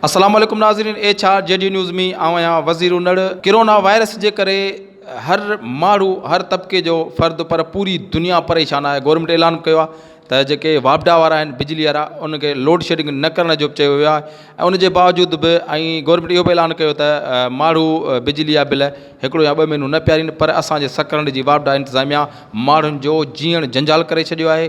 السلام عليڪم ناظرين H R G D news مين آئون آهيان وزير انڙ ڪرونا وائرس جي ڪري هر ماڻهو هر طبقي جو فرد پر پوري دنيا پريشان آهي گورنمينٽ اعلان به ڪيو آهي ته جيڪي واپڊا وارا آهن بجلي وارا ان کي لوڊ شيڊنگ نه ڪرڻ جو به چيو ويو آهي ۽ ان جي باوجود به ۽ گورنمينٽ اهو به اعلان ڪيو ته ماڻهو بجلي جا بل هڪڙو يا ٻه مهينو نه پيارين پر اسان جي سڪرنڊ جي واپڊا انتظاميا ماڻهن جو جيئڻ جنجال ڪري ڇڏيو آهي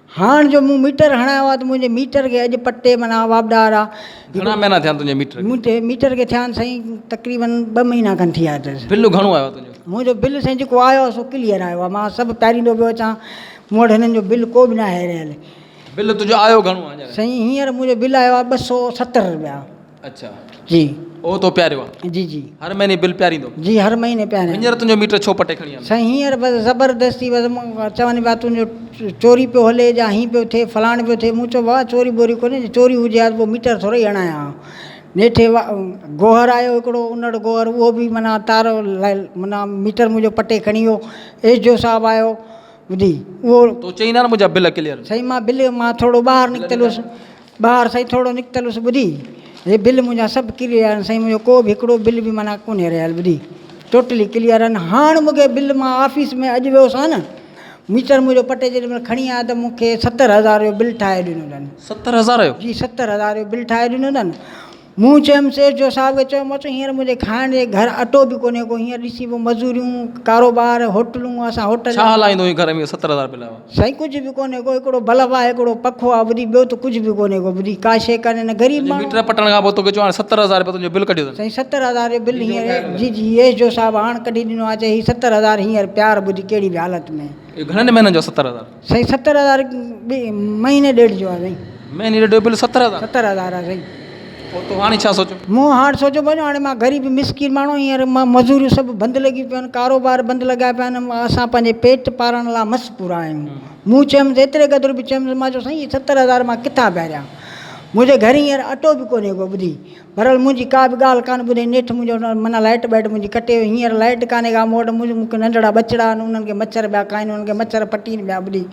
هاڻ جو مون ميٽر هڻايو آ ته منهنجي ميٽر کي اڄ پٽي منا واپڊار آ. گهڻا مهينا ٿيا آهن تنهنجي ميٽر کي؟ منهنجي ميٽر کي ٿيا آهن سائين تقريبن ٻه مهينا کن ٿي ويا اٿس. بل گهڻو آيو آ تنهنجو؟ منهنجو بل سائين جيڪو آيو آ سو ڪليئر آيو آ مان سڀ پياريندو پيو اچان مون وٽ هنن جو بل ڪو به ناهي رهيل. بل تنهنجو آيو گهڻو آ هينئر؟ سائين هينئر منهنجو بل آيو آ ٻه سؤ ستر رپيا. اڇا جي او تو پياريو آ. جي جي هر مهيني بل پياريندو. جي هر مهيني پياريان. هينئر تنهنجو ميٽر ڇو پٽي کڻي آندو. سائين هينئر بس زبردستي بس مون چون پيا تنهنجو چوري پيو هلي جا هين پيو ٿئي فلاڻ پيو ٿئي مون چيو بابا چوري ٻوري ڪونهي جي چوري هجي ها ته پو ميٽر ٿورئي هڻايان ها نيٺي گوهر آيو هڪڙو انڙ گوهر اهو به معنيٰ تار معنيٰ ميٽر منهنجو پٽي کڻي ويو ايس ڊي او صاحب آيو ٻڌي اهو تو چئين ها نه منهنجا بل ڪليئر سائين مان بل مان ٿورڙو ٻاهر نڪتل هوس ٻاهر سائين ٿورڙو نڪتلس ٻڌي هي بل منهنجا سڀ ڪليئر آهن سائين منهنجو ڪو به هڪڙو بل به معنيٰ ڪونهي رهيل ٻڌي ٽوٽلي ڪليئر آهن هاڻ مونکي بل مان آفيس ۾ اڄ ويو سان نه ميٽر منهنجو پٽي جيڏي مهل کڻي آيا ته مونکي ستر هزار جو بل ٺاهي ڏنو اٿن ستر هزار جو جي ستر هزار جو بل ٺاهي ڏنو اٿن مون چيم سيٺ جو صاحب کي چيو مان چيو هينئر منهنجي کائڻ جي گهر اٽو به ڪونهي ڪو هينئر ڏسي پيو مزوريون ڪاروبار هوٽلون اسان هوٽل ڇا هلائيندو هين گهر ۾ ستر هزار مليا هئا. سائين ڪجهه به ڪونهي ڪو هڪڙو بلف آهي هڪڙو پکو آهي ٻڌي ٻيو ته ڪجهه به ڪونهي ڪو ٻڌي ڪا شي ڪانهي نه غريب ماڻهو آهيون. ميٽر پٽڻ کان پوء توکي چيو هاڻي ستر هزار رپيا تنهنجو بل ڪڍيو اٿن. سائين ستر هزار جو بل هينئر جي جي ايس جو صاحب هاڻ ڪڍي ڏنو آهي چي هي ستر هزار هينئر پيار ٻڌ ڪهڙي به حالت ۾. اهي گهڻن مهينن جو آهي ستر هزار. سائين ستر هزار مهيني ڏيڍ جو آ سائين. مهيني ڏيڍ جو بل ستر هزار. ستر هزار آ سائين. پوء تو هاڻي ڇا سوچيو؟ مون هاڻ سوچيو ڀاڄو هاڻي مان غريب مسڪين ماڻهو هينئر مزوريون سڀ بند لڳي پيون آهن ڪاروبار بند لڳا پيا آهن اسان پنهنجي پيٽ پارڻ لا مس پورا آهيون مون چيم ايتري قدر به چيم مان چيو سائين هي ستر هزار مان ڪٿان ڀريان منهنجي گهر هينئر اٽو به ڪونهي ڪو ٻڌي بھرحال منھنجي ڪا به ڳالھ ڪانه ٻڌي نيٺ منھنجو معنيٰ لائٽ ٻائٽ منھنجي ڪٽي وئي ھينئر لائٽ ڪانھي ڪا مون وٽ منھنجو مونکي ننڍڙا ٻچڙا آھن انھن کي مڇر پيا کائن انھن کي مڇر پٽين پيا ٻڏين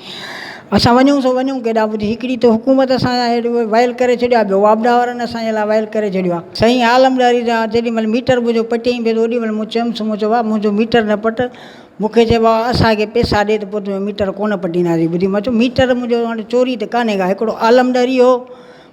اسان وڃون سو وڃون ڪيڏانھن ٻڌ ھڪڙي تو حڪومت اسان جا ھيڏو ويل ڪري ڇڏيو آھي ٻيو واپڊا وارن اسان جي لاء ويل ڪري ڇڏيو آھي سائين عالم ڏاھري جا جيڏي مھل ميٽر منھنجو پٽيائين پيو تو اوڏي مھل مون چيمس مون چيو ڀاء منھنجو ميٽر نه پٽ مونکي چئي ڀاء اسان کي پيسا ڏي ته پوء تنھنجو ميٽر ڪونه پٽينداسين ٻڌي مون چيو ميٽر منھنجو ھاڻي چوري ته ڪانھي ڪا ھڪڙو عالم ڏاھري ھو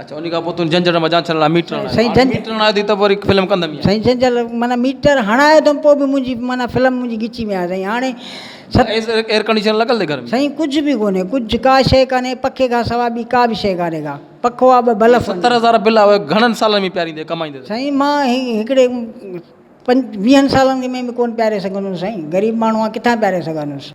اچا انهي کان پوء تون جنجهڙ مان جان ڇڏڻ لاء ميٽر هڻائي سائين جنج ميٽر هڻائي ٿي ته وري فلم ڪندم يار سائين جنجهل معنيٰ ميٽر هڻائي اٿم پوء به منهنجي معنيٰ فلم منهنجي ڳچي ۾ آهي سائين هاڻي ست ايس ايئر ڪنڊيشن لڳل اٿئي گهر ۾ سائين ڪجهه به ڪونهي ڪجهه ڪا شيء ڪانهي پکي کان سواء ٻي ڪا به شيء ڪانهي ڪا پکو آ ٻه بلف آهن ستر هزار بل آهي گهڻن سالن ۾ پياريندي ڪمائيندي سائين مان هي هڪڙي پنج ويهن سالن کي ۾ به ڪونه پياري سگهندس سائين غريب ماڻهو آهيان ڪٿان پياري سگهندس